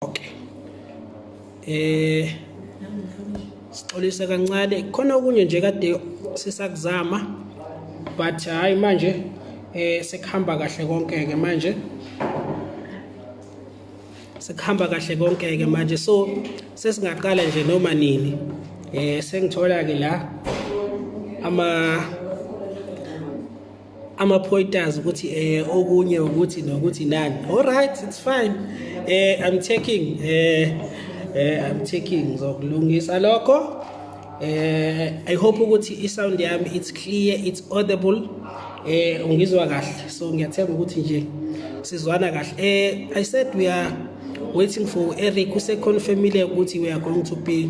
okay eh sixolisa kancane khona okunye nje kade sisakuzama but hayi manje eh sekuhamba kahle konke ke manje sekuhamba kahle konke ke manje so sesingaqala nje noma nini eh sengithola ke la ama ama-pointers ukuthi eh okunye ukuthi nokuthi nani all right it's fine eh i'm taking eh eh i'm taking ngizokulungisa lokho eh i hope ukuthi i-sound yami it's clear it's audible eh ungizwa kahle so ngiyathemba ukuthi nje sizwana kahle eh i said we are waiting for Eric useconfirmile ukuthi we are going to be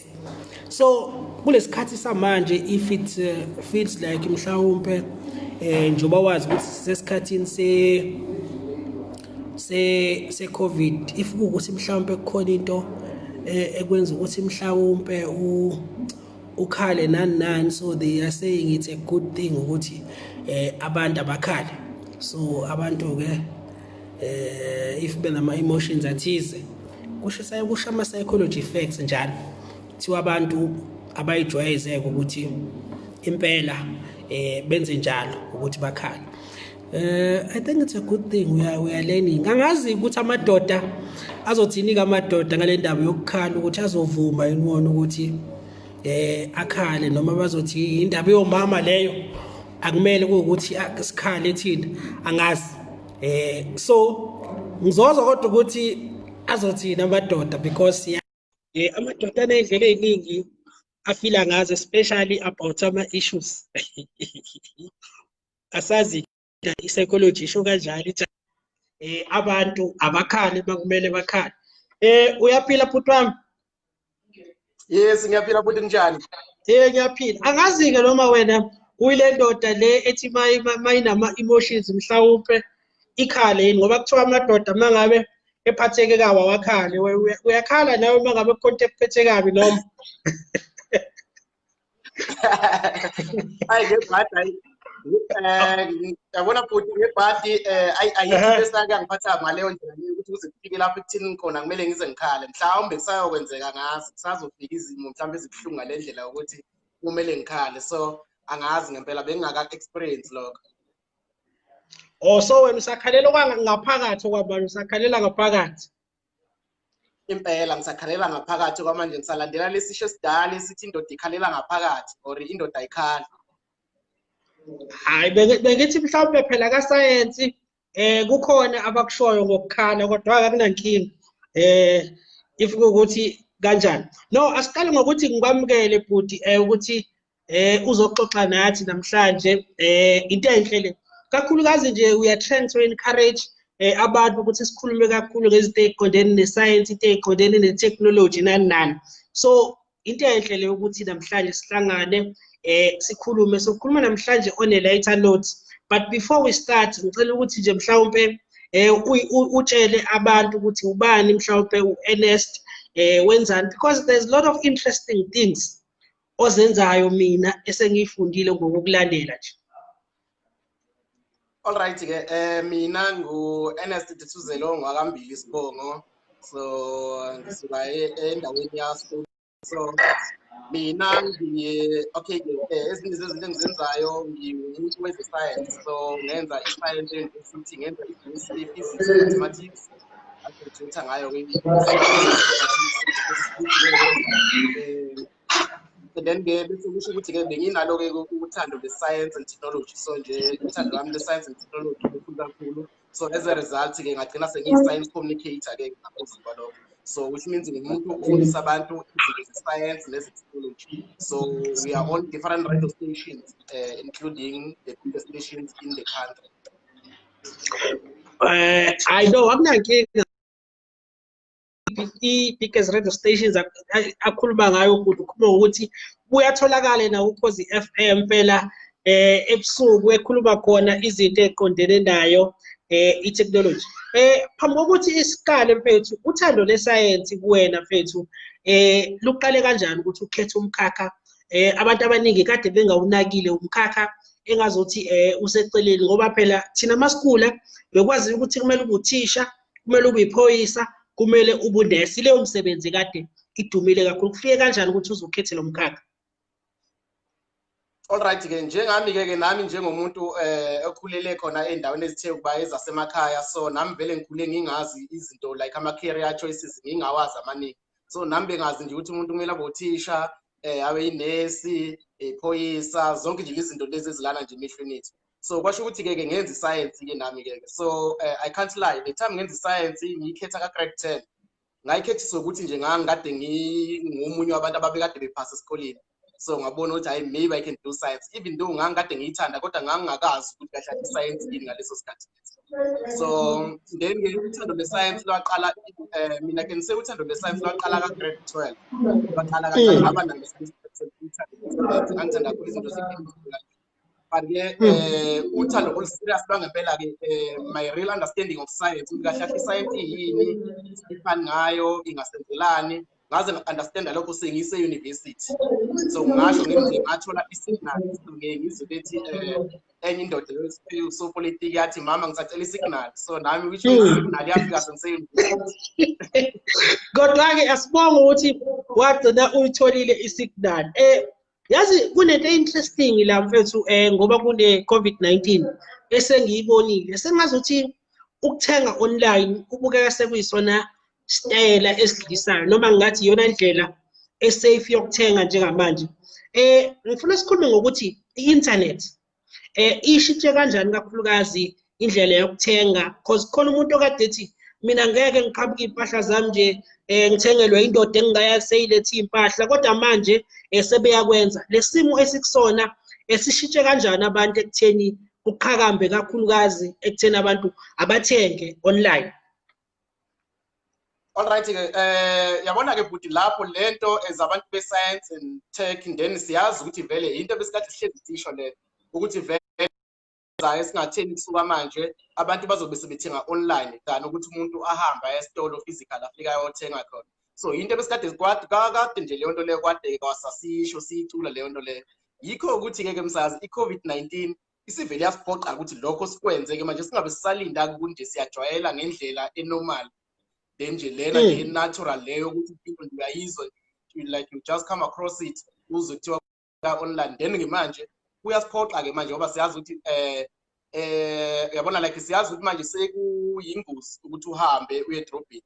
so kulesikhathi samanje if it uh, feels like mhlawumbe eh njoba wazi ukuthi sesikhathini se se se covid if ukuthi mhlawumbe kukhona into eh, ekwenza ukuthi mhlawumbe u ukhale nani nani so they are saying it's a good thing ukuthi eh abantu abakhale so abantu ke eh if benama emotions athize kusho sayokusha ama psychology effects njalo kuthiwa abantu abayijwayezeke ukuthi impela eh benze njalo ukuthi bakhala eh i think it's a good thing we are we are learning angazi ukuthi amadoda azothini kamadoda ngale ndaba yokukhala ukuthi azovuma yini wona ukuthi eh akhale noma bazothi indaba yomama leyo akumele kuwukuthi ah, sikhale thina angazi eh so ngizozwa kodwa ukuthi azothini amadoda because ya eh amadoda anezindlela eziningi afila ngazo especially about ama issues asazi i psychology isho kanjalo ithi eh abantu abakhali bakumele bakhali eh uyaphila bhuti wami yes ngiyaphila futhi kunjani ye ngiyaphila angazi-ke noma wena kuyile ndoda le ethi mayinama-emotions mhlawumpe ikhale yini ngoba kuthiwa amadoda uma ngabe ephatheke kawa wakhale uyakhala nawe uma ngabe kukhonto ekuphethe kabi noma hayi ngebhadi hayi um yabona bhuti ngebhadi um ayi ayikho into esake angiphatha ngaleyo ndlela leyo ukuthi kuze kufike lapho ekuthini khona kumele ngize ngikhale mhlawumbe kusayokwenzeka ngazi kusazofika izimo mhlawumbe ezibuhlungu ngale ndlela yokuthi kumele ngikhale so angazi ngempela bengingaka-experience lokho o oh, so wena usakhalela ngaphakathi okwabani usakhalela ngaphakathi impela ngisakhalela ngaphakathi kwamanje ngisalandela lesisho esidala esithi indoda ikhalela ngaphakathi or indoda ayikhali hayi bengithi mhlawumbe phela kasayensi eh kukhona abakushoyo ngokukhala kodwa akunankinga eh if ukuthi kanjani no asiqale ngokuthi ngikwamukele bhuti eh ukuthi eh uzoxoxa nathi namhlanje eh into enhle le kakhulukazi nje we are trying to encourage eh abantu ukuthi sikhulume kakhulu ngezinto eziqondene nesayensi into eziqondene netechnology nani nani so into enhle le ukuthi namhlanje sihlangane eh sikhulume sokhuluma namhlanje on a lighter note but before we start ngicela ukuthi nje mhlawumbe eh utshele abantu ukuthi ubani mhlawumbe uEnest eh wenzani because there's a lot of interesting things ozenzayo mina esengiyifundile ngokukulandela nje all right ke eh mina ngu Ernest Dithuzelo ngwakambili isibongo so ngisuka e-, endaweni yaso so mina ngiye okay ke eh, ezinye zezinto engizenzayo ngiwumuntu weze science so ngenza i-science university ngenza i-physics mathematics and then ke bese kusho ukuthi ke benginalo ke uthando le science and technology so nje uthando lwami le science and technology lukhulu kakhulu so as a result ke ngagcina sengiyi science communicator ke ngaphezulu kwalokho so which means ngimuntu ofundisa abantu izinto ze-science neze-technology so we are on different radio stations uh, including the biggest stations in the country Eh I know akunankinga i-biggest radio stations akhuluma ngayo ukuthi ukhuluma ngokuthi kuyatholakala na ukhozi FM phela eh ebusuku ekhuluma khona izinto eziqondene nayo eh i-technology eh phambi kokuthi isikale mfethu uthando lesayensi kuwena mfethu eh luqale kanjani ukuthi ukhethe umkhakha eh abantu abaningi kade bengawunakile umkhakha engazothi eh useceleni ngoba phela thina masikula bekwazi ukuthi kumele ubuthisha kumele ubuyiphoyisa kumele ubunesi leyo msebenzi kade idumile kakhulu kufike kanjani ukuthi uzokhethe lo mkhakha all right ke njengami-ke ke nami njengomuntu eh okhulele khona ey'ndaweni ezithe ukuba ezasemakhaya so nami vele ngikhule ngingazi izinto like ama-career choices ngingawazi amaningi so nami bengazi nje ukuthi umuntu kumele abe uthisha um abe yinesi iphoyisa zonke nje izinto lezi ezilana nje emehlweni ethu so kwasho ukuthi-ke ke ngenza isayensi-ke nami-ke so um i can't lie the time ngenza isayensi ngiyikhetha ka-grade ten ngayikhethiswa ukuthi nje ngangikade ngingomunye wabantu ababekade bephasa esikoleni so ngabona ukuthi hayi maybe i can do science even though ngangikade ngiyithanda kodwa ngangingakazi ukuthi kahle kahle i-science yini ngaleso sikhathi so then uthando lwe-science lwaqala eh, mina can say uthando lwe-science lwaqala ka-grade twelve lwaqala kancane mm. ngaba nangangithanda kakhulu izinto ze-chemistry but ke hmm. eh uthando oluserious lwangempela ke eh, my real understanding of science ukuthi kahle kahle science yini ifani ngayo ingasenzelani ngaze nga-understanda lokho sengise-university so ngasho ngize ngathola isignal ngizwe bethi um eh, enye indoda usopolitiki yathi mama ngisacela isignal so nami which hmm. isignal yafika sengise-university kodwa-ke asibonge ukuthi wagcina uyitholile isignal um eh, yazi kunento interesting la mfethu eh ngoba kune COVID-19 esengiyibonile sengazuthi ukuthenga online kubukeka sekuyisona sitayela esidlisayo noma ngathi iyona ndlela esafe yokuthenga njengamanje eh ngifuna sikhulume ngokuthi i-internet eh ishitshe kanjani kakhulukazi indlela yokuthenga because khona umuntu okade ethi mina ngeke ngiqhabuke iy'mpahla zami nje um ngithengelwe indoda engingayazi seyilethe iy'mpahla kodwa manje um sebeyakwenza le simo esikusona esishintshe kanjani abantu ekutheni kuqhakambe kakhulukazi ekutheni abantu abathenge online All right ke eh yabona ke bhuti lapho lento ezabantu be science and tech then siyazi ukuthi vele into besikade sihlezi sisho le ukuthi vele zayo singatheni kusuka manje abantu bazobe sebethenga online than ukuthi umuntu ahambe aye esitolo physical afika ayothenga khona so into besikade kwade kakade nje leyo nto leyo kwade kwasasisho siyicula leyo nto leyo yikho ukuthi ke ke msazi i-covid-19 isivele yasiphoqa ukuthi lokho sikwenzeke manje singabe sisalinda kunje siyajwayela ngendlela enormal then nje lena nje hmm. natural leyo ukuthi impilo nje uyayizwa like you just come across it uze kuthiwa ka online then ke manje kuyasiphoqa ke manje ngoba siyazi ukuthi eh eh uyabona like siyazi ukuthi manje sekuyingozi ukuthi uhambe uye edrobheni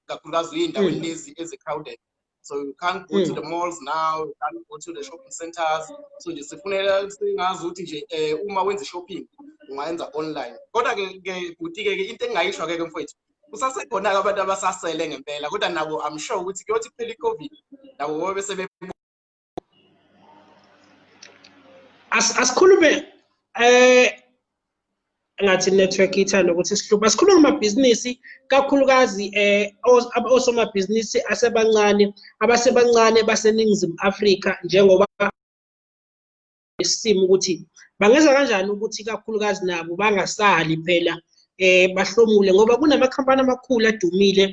kakhulukazi uyindawo hmm. lezi ezi crowded so you can't go mm. to hmm. the malls now you can't go to the shopping centers so nje sifunela singazi ukuthi nje um uma wenza i-shopping ungayenza online kodwa-ke ke bhuti-ke ke into engingayisho-ke ke mfowethu kusasekhona-ke abantu abasasele ngempela kodwa nabo i'm sure ukuthi kuyothi kuphela i-covid nabo bobe sebe asikhulume eh ngathi network ithanda ukuthi sihluphe asikhulume ngamabhizinisi kakhulukazi eh osomabhizinisi asebancane abasebancane baseningizimu Afrika njengoba isimo ukuthi bangenza kanjani ukuthi kakhulukazi nabo bangasali phela eh bahlomule ngoba kunamakhampani amakhulu adumile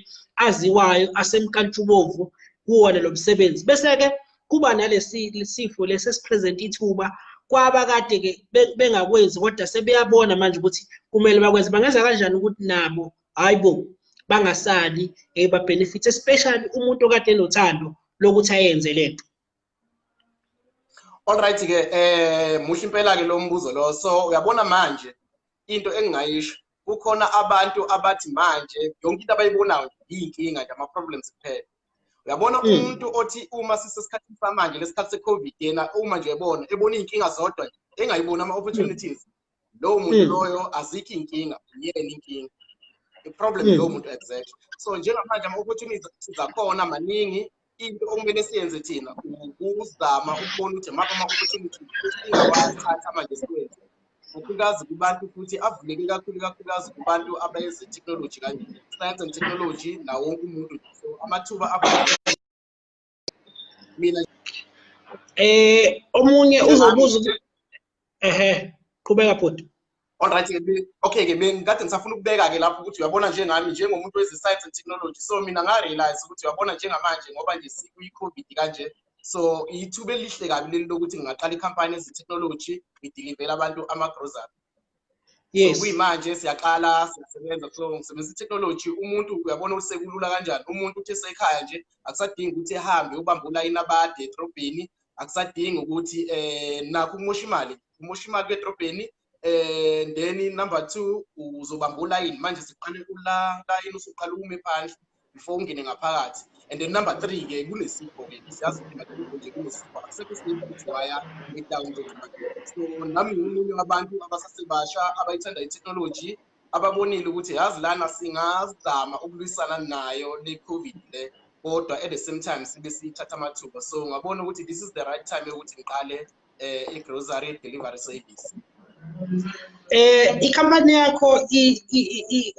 aziwayo asemkantshubovu kuwona lo msebenzi bese-ke kuba nalesifo lesi esipresent ithuba kwaba kade-ke bengakwenzi kodwa sebeyabona manje ukuthi kumele bakwenze bangenza kanjani ukuthi nabo hhayi bo bangasali um eh, babhenefithe especially umuntu okade enothando lokuthi ayenze le nto all right ke eh muhle impela ke lo mbuzo lo so uyabona manje into engingayisho kukhona abantu abathi manje yonke into abayibonayo yinkinga nje ama problems kuphela uyabona hmm. umuntu othi uma sisesikhathini samanje lesikhathi secovid yena uma nje ebona ebona izinkinga zodwa engayibona ama opportunities lowo muntu hmm. loyo azikho inkinga uyena inkinga i-problem hmm. lowo muntu exact so njengamanje ama-opportunities sizakhona maningi into okumele siyenze thina ukuzama ukubona ukuthi maphi ama-opportunities singawathatha manje sikwenze kakhulukazi kubantu futhi avuleke kakhulu kakhulukazi kubantu abayenze technology kanje science and technology nawo wonke umuntu so amathuba abantu mina eh omunye uzobuza ukuthi ehe qhubeka bhuti Alright ke okay ke bengikade ngisafuna ukubeka ke lapho ukuthi uyabona njengami njengomuntu weze science and technology so mina nga realize ukuthi uyabona njengamanje ngoba nje sikuyi covid kanje so ithuba elihle kabi leli lokuthi ngingaqala i-company ezi-technology ngidilivele abantu ama-grocery yes so kuyimanje siyaqala siyasebenza so ngisebenzisa itechnology umuntu uyabona ukuthi sekulula kanjani umuntu uthi esekhaya nje akusadingi ukuthi ehambe ubambe ulayini abade edrobheni akusadingi ukuthi um nakho ukumosha imali umosha imali kwedrobheni um then number two uzobamba ulayini manje siqale ula layini usuqala ume phandle before ungene ngaphakathi and then number three ke kunesipho ke siyazi ukuthi madoda nje kunesipho akusekho isinto ukuthi waya ngidown nje so nami ngiwumunye wabantu abasasebasha abayithanda i-technology ababonile ukuthi yazi lana singazama ukulwisana nayo le covid le kodwa at the same time sibe siyithatha amathuba so ngabona ukuthi this is the right time yokuthi ngiqale eh, i-grocery delivery service eh ikhampani yakho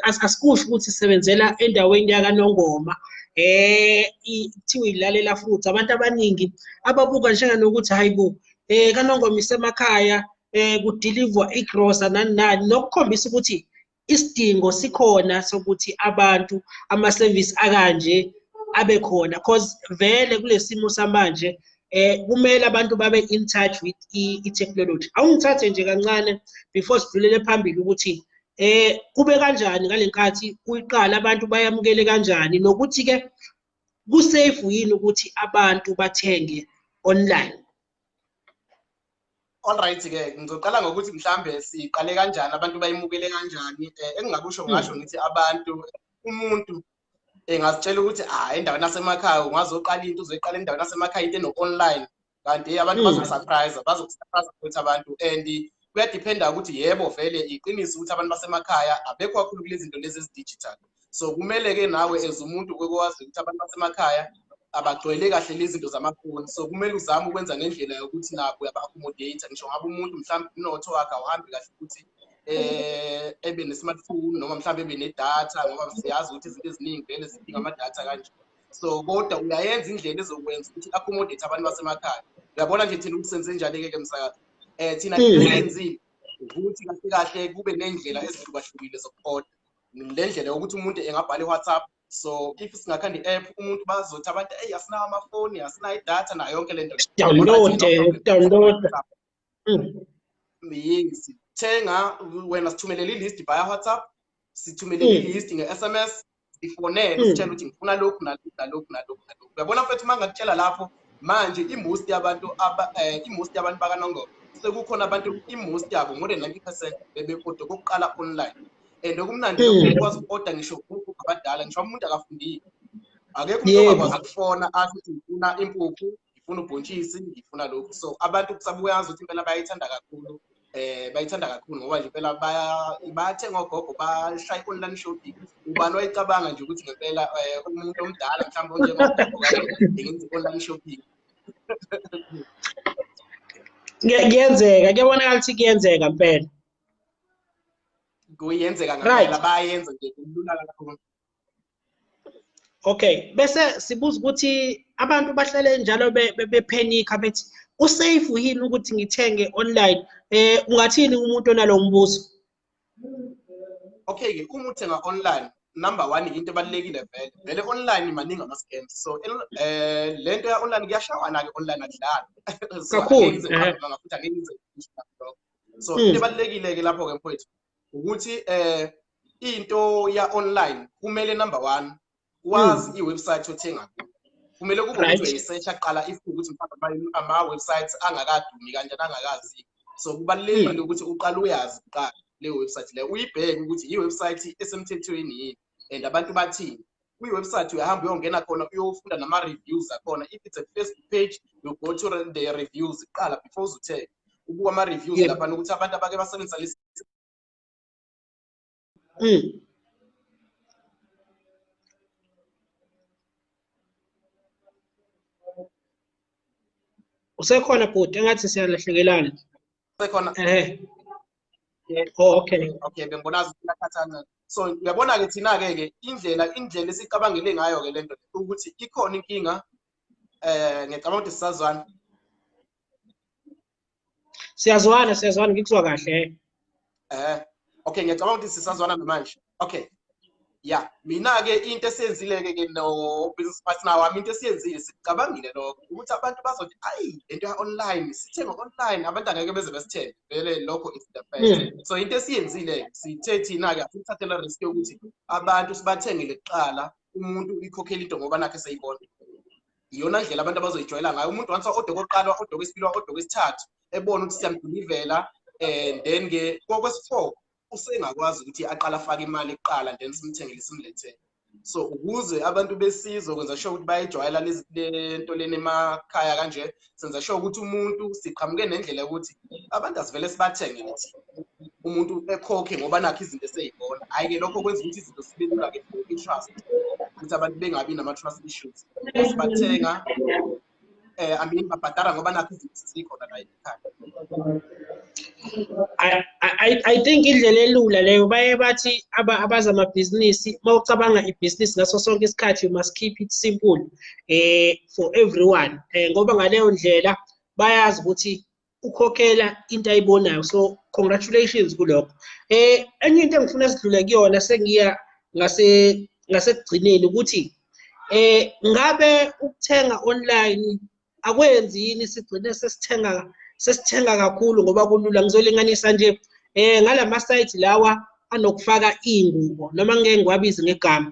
asikusho ukuthi isebenzela endaweni yakanongoma eh kuthiwa ilalela futhi abantu abaningi ababuka njenganokuthi hayi bo eh kanongoma isemakhaya eh kudeliver igrosa nani nani nokukhombisa ukuthi isidingo sikhona sokuthi abantu amasevisi akanje abe khona because vele kulesimo samanje eh kumele abantu babe in touch with i-technology awungithathe nje kancane before sidlulele phambili ukuthi eh kube kanjani ngalenkathi kuyiqala abantu bayamukele kanjani nokuthi ke kusafe yini ukuthi abantu bathenge online all right ke ngizoqala ngokuthi mhlambe siqale kanjani abantu bayimukele kanjani eh, engingakusho hmm. ngasho ngithi abantu umuntu engazitshela ukuthi ah endaweni yasemakhaya ungazoqala into uzoyiqala endaweni yasemakhaya into eno-online kanti abantu hmm. bazokusurprise bazokusurprise ukuthi abantu and kuyadephenda ukuthi yebo vele iqiniso ukuthi abantu basemakhaya abekho kakhulu kulezi zinto lezi ezidigital so kumele-ke nawe as umuntu okwazi ukuthi abantu basemakhaya abagcwele kahle lezi zinto zamafoni so kumele uzame ukwenza ngendlela yokuthi nabo uyaba-accommodate ngisho ngabe umuntu mhlawumbe umnotho wakhe awuhambi kahle ukuthi eh ebe ne-smartphone noma mhlawumbe ebe nedatha ngoba siyazi ukuthi izinto eziningi vele zidinga amadatha kanje so kodwa uyayenza indlela ezokwenza ukuthi accommodate abantu basemakhaya uyabona nje thina ukuthi senze njani-ke ke msakazi um thina enzile ukuthi kahle kahle kube ney'ndlela ezihlukahlukile zokuqoda le ndlela yokuthi umuntu engabhala i-whatsapp so if singakhanda i-app umuntu bazothi abantu eyi asinawo amafoni asinayo idatha nayo yonke le nto downloada mm. yes thenga wena sithumelele i-list via whatsapp sithumelele mm. i-list nge-s m s sifonele mm. sitshela ukuthi ngifuna lokhu nalokhu nalokhu nalokhu nalokhu uyabona mfethu uma ngakutshela lapho manje imost yabantu eh, imost yabantu bakanongoba sekukhona abantu imost yabo more than ninety percent bebekoda kokuqala online and okumnandi hmm. ukwazi uku-order ngisho umuntu abadala ngisho umuntu akafundile akekho umuntu ongakwazi ukufona athi ukuthi ngifuna impuphu ngifuna ubhontshisi ngifuna lokhu so abantu kusabuyazi ukuthi impela bayayithanda kakhulu eh bayithanda kakhulu ngoba nje impela bayathenga ogogo bashaya i-online shopping ubani wayicabanga nje ukuthi ngempela eh, umuntu omdala mhlawumbe onjengogogo ngenza i-online shopping kuyenzeka kuyabonakala ukuthi kuyenzeka mpela kuyenzeka ngempela bayenze nje kulula kakhulu okay bese sibuza ukuthi abantu bahlale njalo bephenikha bethi usafe yini ukuthi ngithenge online eh ungathini umuntu onalo mbuzo okay ke uma uthenga online number 1 into ebalekile vele vele online maningi ama scams so eh lento ya online kuyashawana ke online akudlali kakhulu ngafuthi angeke ngize so hmm. into ebalulekile-ke lapho-ke mfowethu ukuthi um into ya-online kumele number one wazi hmm. i-website othenga kuyo kumele kube ukuthi uyayisearch aqala if ukuthi ama-websites angakadumi kanjani angakazi so kubalulekile ukuthi uqale uyazi kuqala leyo website leyo uyibheke ukuthi i-website esemthethweni yini and abantu bathini kwi-website uyahamba uyongena khona uyofunda nama-reviews akhona if it's a facebook page you go to the reviews kuqala before uzuthenge ubuka ama-reviews yeah. laphana ukuthi abantu abake basebenzisa lesi mm. usekhona bhuti engathi siyalahlekelana sekhona eh oh okay okay bengibona zikhathaza so uyabona ke thina ke ke indlela indlela esicabangele ngayo ke lento ukuthi ikhona inkinga eh ngicabanga ukuthi sisazwana siyazwana siyazwana ngikuzwa kahle eh okay ngiyacabanga ukuthi sisazwana namanje okay ya mina-ke into esiyenzile-ke ke no-business partner wami into esiyenzile sicabangile lokho ukuthi abantu bazothi ayi le nto ya-online sithenge online abantu angeke beze besithenge vele lokho is the first hmm. so into esiyenzile sithe thina-ke asithathela risk yokuthi abantu sibathengele kuqala umuntu uyikhokhela into ngoba nakhe seyibona iyona ndlela abantu abazoyijwayela ngayo umuntu once odoko oqala odoko esibili odoko esithathu ebona ukuthi siyamdilivela and then ke kokwesi-four usengakwazi ukuthi aqala afake imali kuqala then simthengele simlethele so ukuze abantu besizwe kwenza sure ukuthi bayijwayela lento leni emakhaya kanje senza sure ukuthi umuntu siqhamuke nendlela yokuthi abantu asivele sibathenge ukuthi umuntu ekhokhe ngoba nakho izinto eseyibona hhayi-ke lokho kwenza ukuthi izinto sibe lula-ke for i-trust ukuthi abantu bengabi nama-trust issues sibathenga eh I mean babhadara ngoba nakho izinto zikho la ekhaya I, I, I think indlela elula leyo baye bathi abazamabhizinisi uma ucabanga ibhizinisi ngaso sonke isikhathi you must keep it simple eh for everyone eh ngoba ngaleyo ndlela bayazi ukuthi ukhokela into ayibonayo so congratulations kulokho eh enye into engifuna sidlule kuyona sengiya ngase ngasekugcineni ukuthi eh ngabe ukuthenga online akwenzi yini sigcine sesithenga sesithenga kakhulu ngoba kulula ngizolinganisa nje eh ngalama site lawa anokufaka ingubo noma ngeke ngiwabize ngegama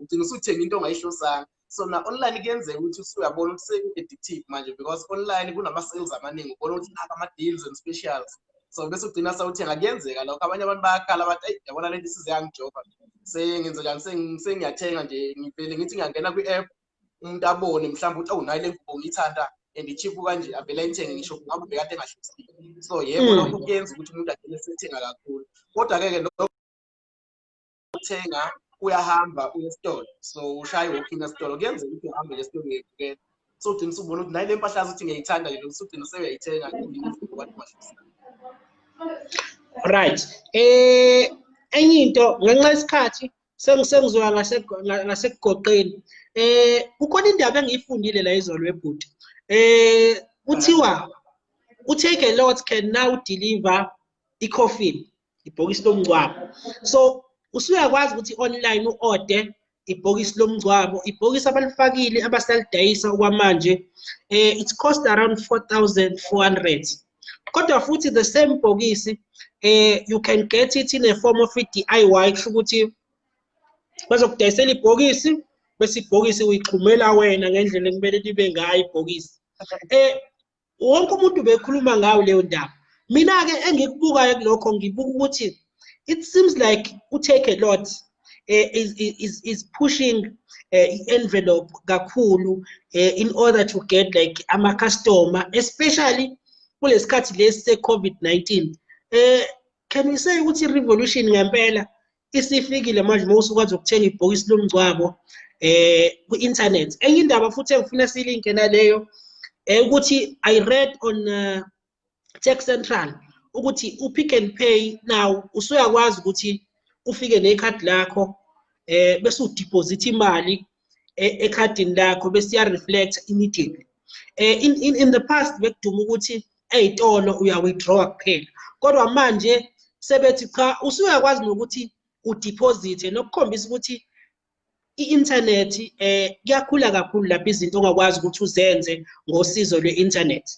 ugcina usuthenga into ongayihlosanga so na online kuyenzeka ukuthi usuyabona ukuthi seku-addictive manje because online kunama-sales amaningi ubona ukuthi naka ama-deals and specials so bese ugcina sawuthenga kuyenzeka lokho abanye abantu bayakhala bathi ayi yabona lento isize yangijoba sengenze njani sengiyathenga nje ngivele ngithi ngiyangena kwi-app umuntu abone mhlawumbe ukuthi awunayo le ngubo ngiyithanda and ichipu kanje avele ayithenge ngisho ngabe ubekade engahlosile so yebo hmm. lokho kuyenza ukuthi umuntu agcine sethenga kakhulu kodwa-ke ke uthenga uyahamba uye esitolo so ushaye wophina esitolo kuyenzeka ukuthi uhambe esitolo uyebukela so ugcina usubona ukuthi naye le mpahla yazi ukuthi ngiyayithanda yona usugcina sewuyayithenga right eh enye into ngenxa yesikhathi sengisengizoya ngasekugoqeni eh kukhona indaba engiyifundile la izolo webhuti eh kuthiwa u-take a lot can now deliver i-coffin ibhokisi lomngcwabo so usuyakwazi ukuthi online u-ode ibhokisi lomngcwabo ibhokisi abalifakile abasalidayisa okwamanje eh it cost around 4400 kodwa futhi the same bhokisi eh you can get it in a form of i-DIY kusho ukuthi bazokudayisela ibhokisi bese ibhokisi uyixhumela wena ngendlela ekumele libe ngayo ibhokisi eh wonke umuntu bekhuluma ngayo leyo ndaba mina-ke engikubukayo kulokho ngibuka ukuthi it seems like utake a lot uh, is, is, is pushing uh, i-envelope kakhulu uh, in order to get like ama-customer especially kulesikhathi lesi se-covid-19 um uh, can we say ukuthi i-revolution ngempela isifikile manje uma usukwazi ukuthenga ibhokisi lomngcwabo eh ku-internet enye indaba futhi engifuna siyilinke naleyo eh, ukuthi i read on uh, tech central ukuthi upick and pay now usuyakwazi ukuthi ufike nekhadi lakho eh bese udeposit imali eh, ekhadini lakho bese iya reflect immediately eh in, in in the past bekuduma ukuthi ey'tolo uya-withdrawa kuphela kodwa manje sebethi cha usuyakwazi nokuthi udiphozithe nokukhombisa ukuthi i-inthanethi um eh, kuyakhula kakhulu lapho izinto ongakwazi ukuthi uzenze ngosizo lwe-inthanethi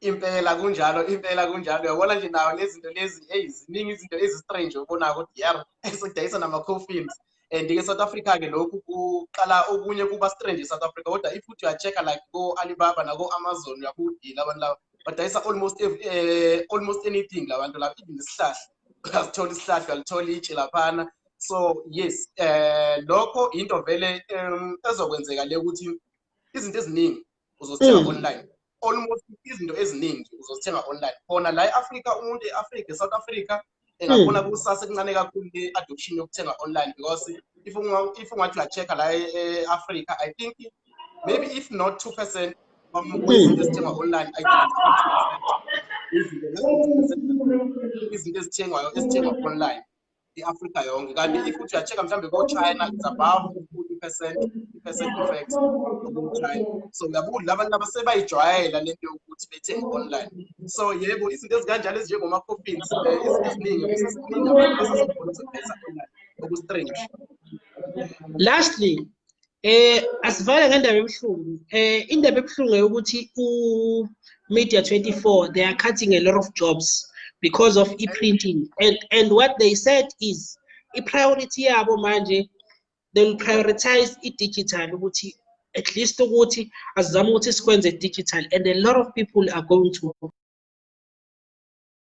impela kunjalo impela kunjalo uyabona nje nawo lezinto lezi eyi ziningi izinto ezi-strange obonayo ukuthi yar esidayisa nama-coffins um and ke South Africa ke lokhu kuqala okunye kuba strange e South Africa kodwa if uthi uyacheck like go Alibaba nako Amazon uyabudila abantu laba badayisa almost uh, almost anything labantu lapha even isihlahla uyasithola isihlahla uyalithola itshe laphana so yes eh lokho into vele um, ezokwenzeka le ukuthi izinto eziningi uzozithenga mm. online almost izinto eziningi uzozithenga online khona la e-afrika umuntu e-afrika e-south africa engabona mm. kusasa kuncane kakhulu i-adoption yokuthenga online because if ungathi uya-check-a la e-afrika i think maybe if not two percent izinto ezithengwa online izinto ezithengwayo ezithengwa online i-afrika yonke kanti if uthi uya-check-a mhlawumbe ko-china it's above i-percent i-percent effect china so uyabuka ukuthi labantu laba sebayijwayela le nto yokuthi bethenge online so yebo izinto ezikanjalo ezinjengomakhofini eh, izinto eziningi eziningi abantu ezizikhona zokuphetha online oku-strange lastly Eh asivale ngendaba ebuhlungu. Eh indaba ebuhlungu ukuthi u Media 24 they are cutting a lot of jobs because of e-printing and and what they said is i-priority yabo manje they will prioritize i-digital ukuthi at least ukuthi azizame ukuthi sikwenze digital and a lot of people are going to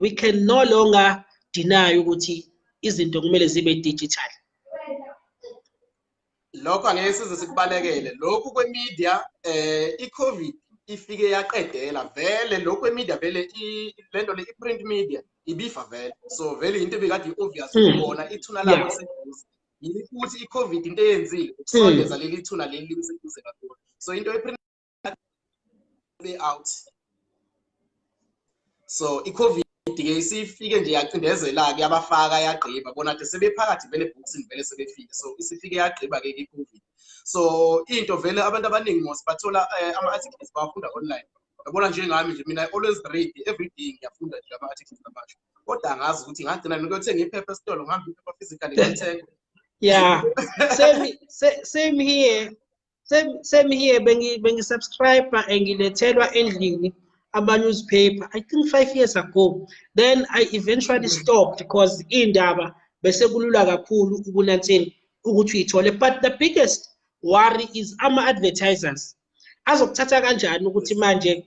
we can no longer deny ukuthi izinto kumele zibe digital lokho angeke size sikubalekele lokhu kwemedia eh icovid ifike yaqedela vele lokhu kwemedia vele lento le iprint media ibifa vele so vele into ebikade i-obvious hmm. kubona ithuna labo seduze yini futhi icovid into eyenzile hmm. ukusondeza leli thuna leli liseduze kakhulu so into way out so icovid ke isifike nje yacindezela-ke yabafaka yagqiba bona nje sebephakathi vele ebhokisini vele sebefike so isifike yagqiba-ke icovid so into vele abantu abaningi mos bathola eh, ama-articles bawafunda online yabona njengami nje mina i always read every day ngiyafunda nje ama-articles amasha kodwa angazi ukuthi ngagcina ngiyothenga iphepha esitolo ngihambe iphepha physically ngithenga yeah same, same here same same here bengi bengi subscribe engilethelwa endlini ama newspaper i think 5 years ago then i eventually stopped because indaba bese kulula kakhulu ukunantseni ukuthi uyithole but the biggest worry is ama advertisers azokuthatha kanjani ukuthi manje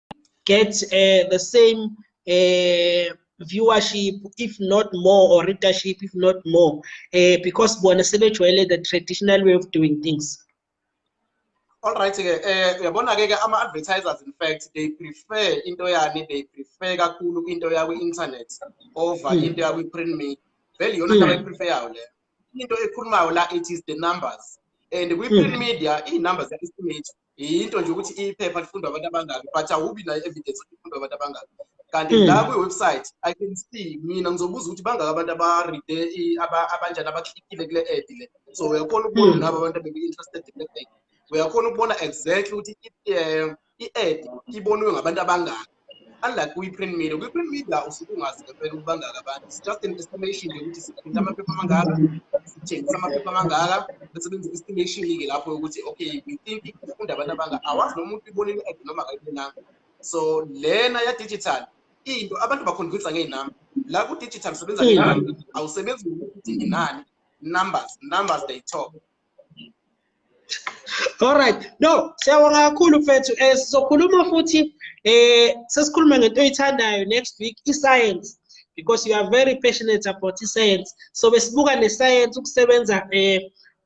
get uh, the same uh, viewership if not more or readership if not more uh, because bona sebejwayele the traditional way of doing things all right ke eh uyabona ke ke ama advertisers in fact they prefer into yani they prefer kakhulu into yakwi internet over hmm. into yakwi print media vele yona into hmm. abayiprefer yayo le into ekhulumayo la it is the numbers and kwi print hmm. media i numbers ya estimate yinto nje ukuthi iphepha lifundwa abantu abangaki but awubi nayo evidence ukuthi lifundwa abantu abangaki kanti hmm. la kwi-website i can see mina ngizobuza ukuthi bangaki abantu abaride abanjani abaklikile kule ad le so uyakhona ukubona hmm. nabo abantu abeku-interested kule ad uyakhona ukubona exactly ukuthi um i-ad ibonwe ngabantu abangaki unlike kwi-print media kwi-print media usuke ungazi ngempela ukubangaka abantu it's just an estimation nje ukuthi siphinde amaphepha amangaka sithengisa amaphepha amangaka bese benza i-estimation-ke lapho yokuthi okay we think ifunda abantu abanga awazi noma umuntu ibona i-ad noma akayibonanga so lena ya-digital into abantu bakhonvinsa ngey'namba la ku-digital usebenza ngey'namba awusebenzi ngokuthi nginani numbers numbers they talk Alright. No, siyabonga kakhulu mfethu. Eh sizokhuluma futhi eh sesikhuluma ngento oyithandayo next week i-science because you are very passionate about i-science. So besibuka ne-science ukusebenza eh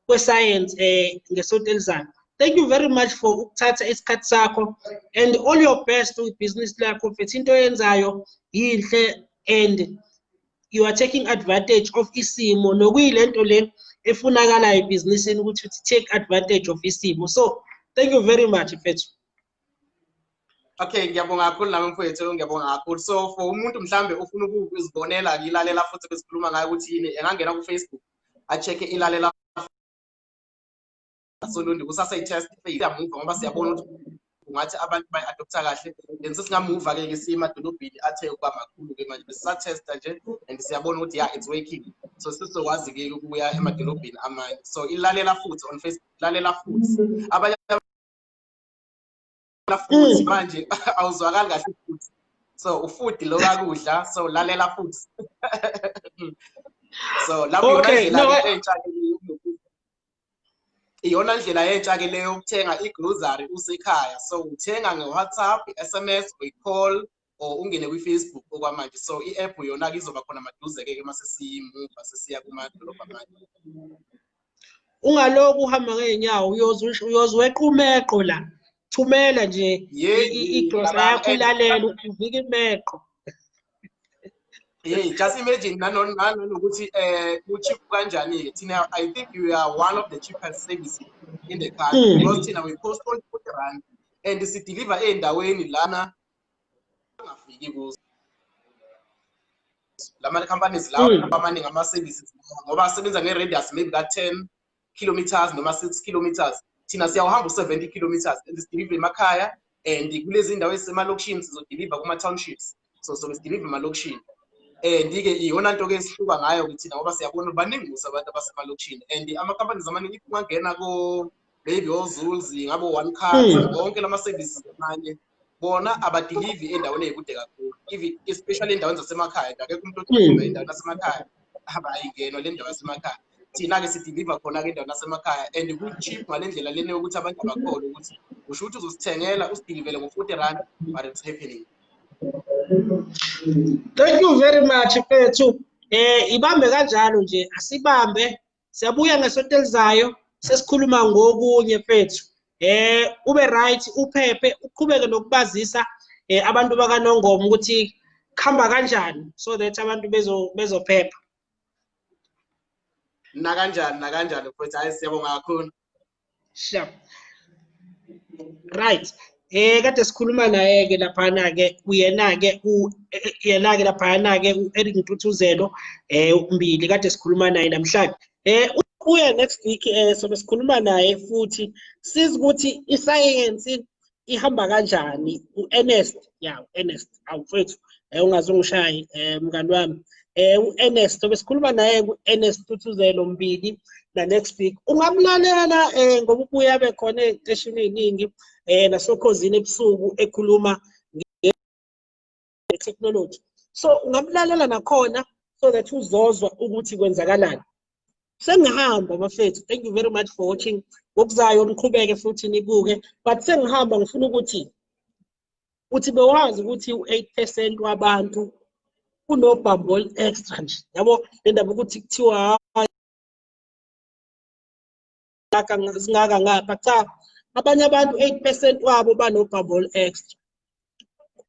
kwe-science eh ngesonto elizayo. Thank you very much for ukuthatha isikhathi sakho and all your best with business lakho mfethu into oyenzayo yinhle and you are taking advantage of isimo nokuyilento le efunakalayo ebhizinisini ukuthi uthi take advantage of isimo so thank you very much mfethu okay ngiyabonga kakhulu nami mfowethu ngiyabonga kakhulu so for umuntu mhlambe ufuna ukuzibonela ngilalela futhi besikhuluma ngayo ukuthi yini engangena kufacebook a-check-e ilalela solundi kusasa i-test iyamuva ngoba siyabona ukuthi kungathi abantu bayi-adoptha kahle then sesingamuva-ke ke siye emadolobheni athe ukuba makhulu-ke manje besisatesta nje and siyabona ukuthi ya it's working so sizokwazi-ke ukuya emadolobheni amanye so ilalela futhi on facebook lalela futhi abanye futhi mm. manje awuzwakali kahle futhi so ufuthi lo kakudla so lalela futhi so lapho okay, no. iyona ndlela yentsha ke leyo ukuthenga igrocery usekhaya so uthenga ngewhatsapp i-sms uyi-call or ungene kwi-facebook okwamanje so i-app yona-ke izoba khona maduze-ke ke uma sesiyimuva sesiya kumadolobha amanye ungaloku uhamba ngeenyawo uyoze wequmeqo la thumela nje igrosa yakho ilalela uvika imeqo Hey, just imagine nanokuthi eh ucheap kanjani-ke thina i think you are one of the cheapest services in the country mm. because thina we post only 40 rand and sideliver ey'ndaweni lana angafiki kuzo lama companies lawo mm. amaningi ama services ngoba asebenza nge radius maybe ka 10 kilometers noma 6 kilometers thina siyawuhamba u 70 kilometers and sideliver emakhaya and kulezi ndawo ezisemalokishini sizodeliver kuma townships so so sideliver emalokishini and ke iyona nto ke esihluka ngayo ukuthi ngoba siyabona baningi kusa abantu abasemalokishini and ama companies amaningi if ungangena ko maybe ozulzi ngabo one car hmm. wonke lama services amanye bona abadilivi endaweni eyikude kakhulu even especially endaweni zasemakhaya nje akekho umuntu odiliva hmm. endaweni yasemakhaya haba ayingenwa le ndawo yasemakhaya thina-ke sidiliva khona-ke endaweni yasemakhaya and ku-cheap ngale ndlela lena yokuthi abantu bakhole ukuthi usho ukuthi uzosithengela usidilivele ngo-forty rand but it's happening thank you very much mfethu um ibambe kanjalo nje asibambe siyabuya ngesonto elizayo sesikhuluma ngokunye fethu eh ube right uphephe uqhubeke nokubazisa eh abantu bakanongoma ukuthi khamba kanjani so that abantu bezo bezophepha nakanjani nakanjani futhi hayi siyabonga kakhulu sha right eh kade sikhuluma naye ke laphana ke uyena ke uyena ke laphana ke uEric Ntuthuzelo eh umbili kade sikhuluma naye namhlanje eh uya next week eh sobe sikhuluma naye futhi sizi ukuthi isayensi ihamba kanjani u-ernest ya u-ernest awu mfethu um ungaze ungishaye um mngani wami um u-ernest obesikhuluma naye ku-ernest tuthuzelo mbili na-next week ungamlalela um ngoba ubuye abe khona ey'teshini ey'ningi um nasokhozini ebusuku ekhuluma technology so ungamlalela nakhona so that uzozwa ukuthi kwenzakalani sengihamba bafethu thank you very much for watching ngokuzayo niqhubeke futhi nibuke but sengihamba ngifuna ukuthi uthi bewazi ukuthi u-8 percent wabantu kunobhambo olu-extra nje yabo le ndaba ukuthi kuthiwa ezingaka zingaka ngapha cha abanye abantu 8% wabo banobubble extra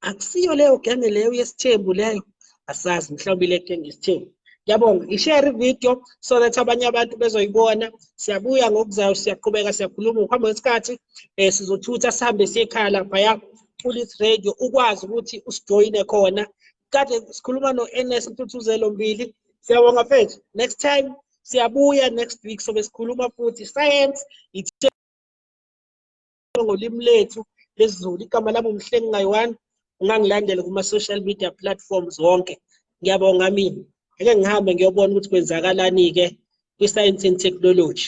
akusiyo leyo genge leyo yesithembu leyo asazi mhlawumbe le genge yesithembu Yabonga. I-share video so that abanye abantu bezoyibona. Siyabuya ngokuzayo siyaqhubeka siyakhuluma ngokuhamba kwesikhathi eh sizothutha sihambe siyekhaya laphaya kulit radio ukwazi ukuthi usijoyine khona. Kade sikhuluma no-NS Mthuthuzelo Mbili. Siyabonga mfethu. Next time siyabuya next week sobe sikhuluma futhi science ithe ngolimi lethu lesiZulu igama lami umhlengi ngayiwani ungangilandela kuma social media platforms wonke ngiyabonga mina ngeke ngihambe ngiyobona ukuthi kwenzakalani ke kwi science and technology